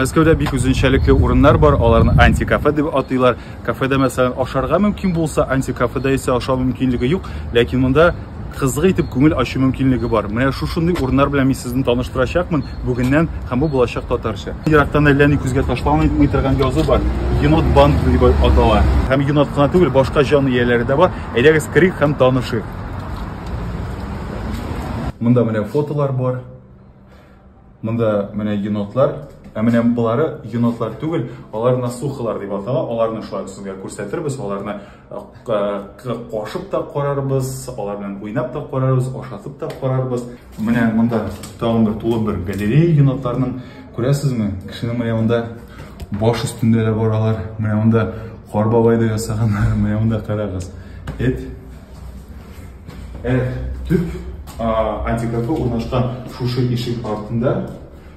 Мәскәүдә бик үзенчәлекле урыннар бар, аларны антикафе дип атыйлар. Кафеда мәсәлән ашарга мөмкин булса, антикафеда исә ашау мөмкинлеге юк, ләкин монда кызык итеп күңел ачу мөмкинлеге бар. Менә шушындый урыннар белән мин сезне таныштырачакмын бүгеннән һәм бу булачак татарча. Ерактан әллә ни күзгә ташланмый торган язу бар. Енот банк дип атала. Һәм енот кына түгел, башка җан ияләре дә бар. Әйдәгез керик һәм танышыйк. Монда менә фотолар бар. Монда менә енотлар. Ә менә болары енотлар түгел, алар насухалар дип атала. Аларны шулай сезгә күрсәтербез, аларны кашып та карарбыз, алар белән уйнап та карарбыз, ашатып та карарбыз. Менә монда тагын бер тулы бер галерея енотларның. Күрәсезме? Кешенең менә монда баш өстендә дә баралар. Менә монда Кар бабай да ясаганнар. Менә монда карагыз. Эт Ә төп антикорпы урнашкан шушы ишек артында,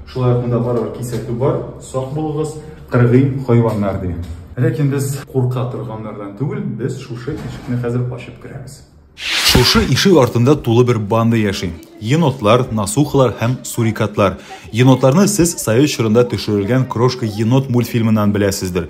шулай ук монда барыбер кисәтү бар, сак булыгыз, кыргый хайваннар ди. Ләкин без курка торганнардан түгел, без шушы ишекне хәзер ачып керәбез. Шушы ишек артында тулы бер банда яши. Енотлар, насухалар һәм сурикатлар. Енотларны сез Союз чорында төшерелгән Крошка енот мультфильмыннан беләсездер.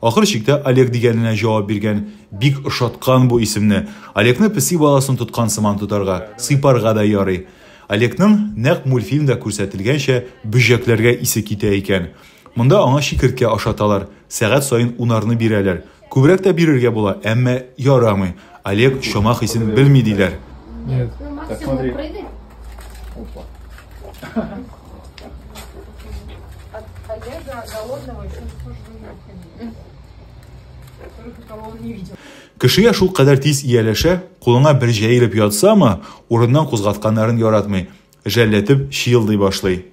Ахыр чиктә Олег дигәненә җавап биргән. Бик ошаткан бу исемне. Олегны песи баласын тоткан сыман тотарга, сыйпарга да ярый. Олегның, нәкъ мультфильмда күрсәтелгәнчә, бөҗәкләргә исе китә икән. Монда аңа чикерткә ашаталар, сәгать саен унарны бирәләр. Күбрәк тә бирергә була, әмма ярамый. Олег чама хисен белми диләр. Нет. Так смотри. Опа. Кешегә шул кадәр тиз ияләшә, кулыңа бер җәелеп ятсамы, урыннан кузгатканнарын яратмый. Жәлләтеп чыелдый башлый.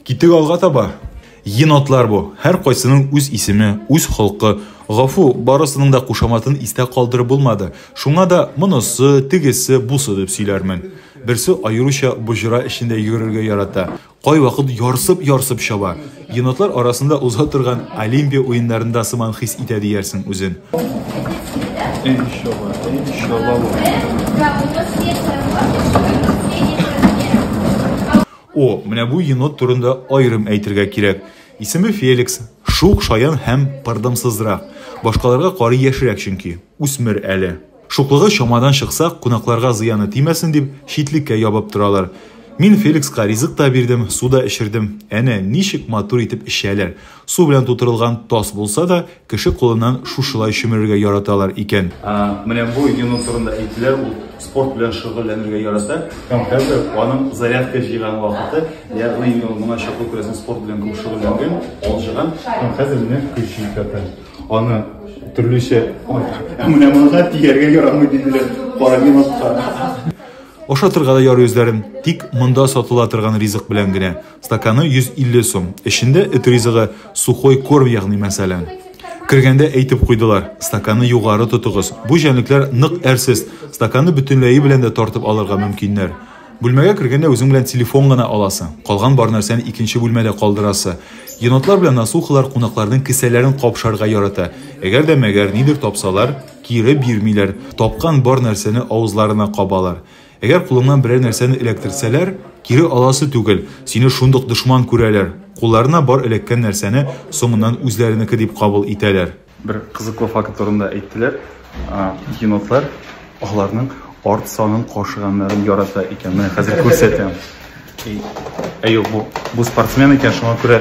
Китик алга таба. Енотлар бу. Һәр кайсының үз исеме, үз холкы. Гафу, барысының да кушаматын истә калдырып булмады. Шуңа да монысы, тегесе, бусы дип сөйләрмен. Берсе аеруча боҗра эчендә йөрергә ярата. Кайвакыт ярсып-ярсып чаба. Енотлар арасында уза торган Олимпия уеннарында сыман хис итә диярсең үзен. О, менә бу енот турында аерым әйтергә кирәк. Исеме Феликс, шук шаян һәм пырдымсызрак. Башкаларга карый яшерәк чөнки, үсмер әле. Шуклыгы чамадан чыкса, кунакларга зыяны тимәсен дип, читлеккә ябып торалар. Мин Феликска ризык та бирдем, су да эчердем. Әнә, ничек матур итеп эчәләр. Су белән тутырылган таз булса да, кеше кулыннан шушылай чөмерергә яраталар икән. Менә бу Юнус турында әйттеләр, ул спорт белән шөгыльләнергә ярата һәм хәзер аның зарядка җыйган вакыты, ягъни инде ул моңа чаклы, күрәсең, спорт белән күп шөгыльләнгән, алҗыган һәм хәзер менә көч җитә. Аны төрлечә, ә менә монда тияргә ярамый диделәр. Парагенотка. Ашатырга да ярый үзләрен, тик монда сатыла торган ризык белән генә. Стаканы 150 сум. Эчендә эт ризыгы, сухой корм ягъни мәсәлән. Кергәндә әйтеп куйдылар, стаканы югары тотыгыз. Бу җәнлекләр нык әрсез, стаканы бөтенләе белән дә тартып алырга мөмкиннәр. Бүлмәгә кергәндә үзең белән телефон гына аласы, калган бар нәрсәне икенче бүлмәдә калдырасы. Енотлар белән насухалар кунакларның кесәләрен капшарга ярата. Әгәр дә мәгәр нидер тапсалар, кире бирмиләр, тапкан бар нәрсәне авызларына кабалар. Әгәр кулыңнан берәр нәрсәне эләктерсәләр, кире аласы түгел, сине шундук дошман күрәләр. Кулларына бар эләккән нәрсәне соңыннан үзләренеке дип кабул итәләр. Бер кызыклы факт турында әйттеләр, енотлар аларның арт санын кашыганнарын ярата икән. Менә хәзер күрсәтәм. Әй, юк, бу, бу спортсмен икән, шуңа күрә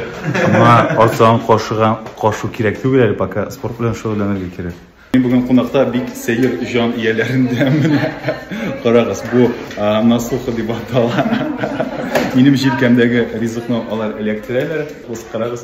моңа арт санын кашыган, кашу кирәк түгел әле, пока спорт белән шөгыльләнергә кирәк. Мин бүген кунакта бик сәер җан ияләрендә менә. Карагыз, бу насуха дип атала. Минем җилкәмдәге ризыкны алар эләктерәләр. Ус карагыз.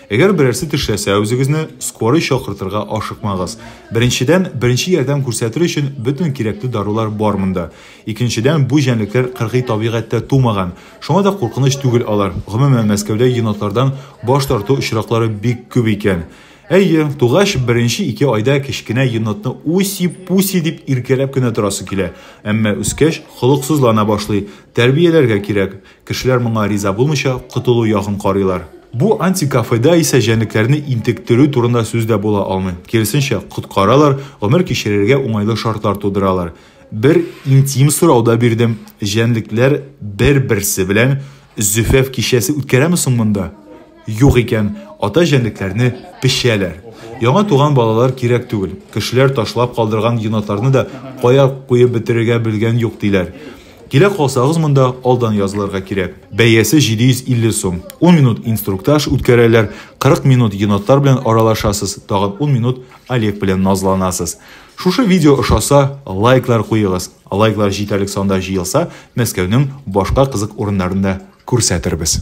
Әгәр берәрсе тешләсә, үзегезне скорый чакыртырга ашыкмагыз. Беренчедән, беренче ярдәм күрсәтер өчен бөтен кирәкле дарулар бар монда. Икенчедән, бу җәнлекләр кыргый табигатьтә тумаган. Шуңа да куркыныч түгел алар. Гомумән, Мәскәүдә енотлардан баш тарту очраклары бик күп икән. Әйе, тугач беренче ике айда кечкенә енотны уси-пуси дип иркәләп кенә торасы килә, әмма үскәч холыксызлана башлый. Тәрбияләргә кирәк. Кешеләр моңа риза булмыйча, котылу ягын карыйлар. Бу антикафеда исә җәнлекләрне интектерү турында сүз дә була алмый. Киресенчә, коткаралар, гомер кичерергә уңайлы шартлар тудыралар. Бер интим сорау да бирдем, җәнлекләр бер-берсе белән зөфәф кичәсе үткәрәме соң монда? Юк икән, ата җәнлекләрне пешәләр. Яңа туган балалар кирәк түгел. Кешеләр ташлап калдырган енотларны да кая куеп бетерергә белгән юк, диләр. Килә калсагыз монда, алдан язылырга кирәк. Бәясе 750 сум. Ун минут инструктаж үткәрәләр, 40 минут енотлар белән аралашасыз, тагын ун минут Олег белән назланасыз. Шушы видео ошаса, лайклар куегыз. Лайклар җитәрлек санда җыелса, Мәскәүнең башка кызык урыннарын да күрсәтербез.